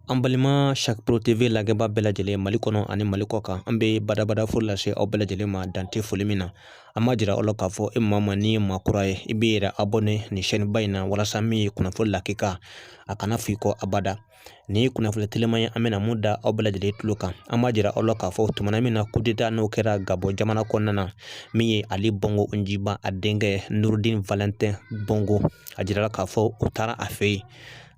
An balima Sacbro TV lajɛbaa bɛɛ lajɛlen Mali kɔnɔ ani Mali kɔ kan an bɛ badabada foli lase aw bɛɛ lajɛlen ma dan tɛ foli min na an b'a jira aw la k'a fɔ e maa min n'i ye maa kura ye i b'i yɛrɛ abonné nin chaîne ba in na walasa min ye kunnafoni lakika a kana f'i kɔ abada nin ye kunnafoni telima ye an bɛna min da aw bɛɛ lajɛlen tulo kan an b'a jira aw la k'a fɔ tumana min na coup d'état n'o kɛra Gabɔ jamana kɔnɔna na min ye Ali Bongo Ondimba a denkɛ Nurudin Valentin Bongo a jirala k'a fɔ u taara a fɛ yen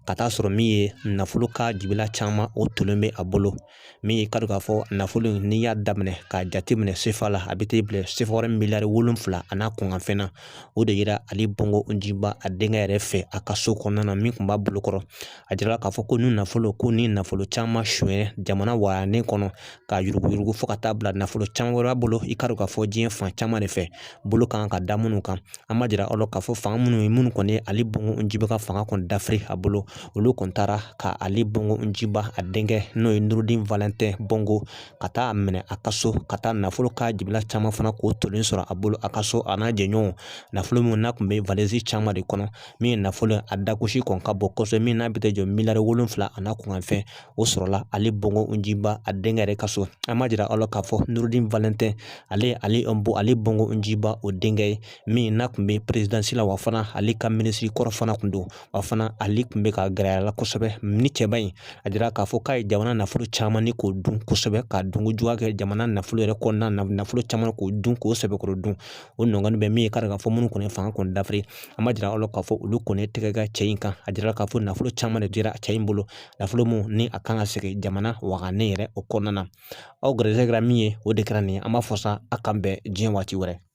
ka t'a sɔrɔ min ye nafolo ka jibila caman o tolen bɛ a bolo min ye k'a dɔn k'a fɔ nafolo in n'i y'a daminɛ k'a jateminɛ sefa la a bɛ t'i bila sefawari miliyari wolonfila a n'a kunkanfɛn na o de yera ali bongo ondimba a denkɛ yɛrɛ fɛ a ka so kɔnɔna na min tun b'a bolokɔrɔ a jirala k'a fɔ ko ni nafolo ko ni nafolo caman sonyɛ jamana wagande kɔnɔ ka yuruguyurugu fo ka taa bila nafolo caman wɛrɛ bolo i k'a dɔn k'a fɔ diɲɛ fan caman de fɛ bolo kan ka da minnu kan an b'a jira aw la k'a fɔ fanga minnu ye minnu kɔni ye ali bongo ondimba ka fanga kɔni dafiri a bolo olu kɔni taara ka ali bongo ondimba a denkɛ n'o ye nurudin valɛntɛn bongo ka taa a minɛ a ka so ka taa nafolo ka jibila caman fana k'o tolen sɔrɔ a bolo a ka so a n'a jɛɲɔgɔnw nafolo minnu n'a tun bɛ valizi caman de kɔnɔ min ye nafolo a dagosi kɔni ka bon kosɛbɛ min n'a bɛ t'i jɔ miliyari wolonfila a n'a kunkanfɛn o sɔrɔla ali bongo ondimba a denkɛ yɛrɛ ka so an b'a jira aw la k'a fɔ nurudin valɛntɛn ale ali bo ali bongo ondimba o denkɛ ye min n'a tun bɛ perezidansi la wa fana ale ka minisiri kɔrɔ fana tun don wa fana ale tun bɛ ka gɛrɛ a la kosɛbɛ ni cɛba in a jira k'a fɔ k'a ye jamana nafolo caman ni k'o dun kosɛbɛ ka dunko juguya kɛ jamana nafolo yɛrɛ kɔnɔna na nafolo caman k'o dun k'o sɛbɛkɔrɔ dun o nɔgɔni bɛ min ye k'a dɔn k'a fɔ minnu kɔni fanga kɔni dafiri an b'a jira aw la k'a fɔ olu kɔni tɛgɛ da cɛ in kan a jira k'a fɔ nafolo caman de yera cɛ in bolo nafolo min ni a kan ka segin jamana wagande yɛrɛ o kɔnɔna na aw garisɛgɛ min ye o de kɛra nin ye an b'a fɔ sa a k'an bɛn diɲɛ waati wɛrɛ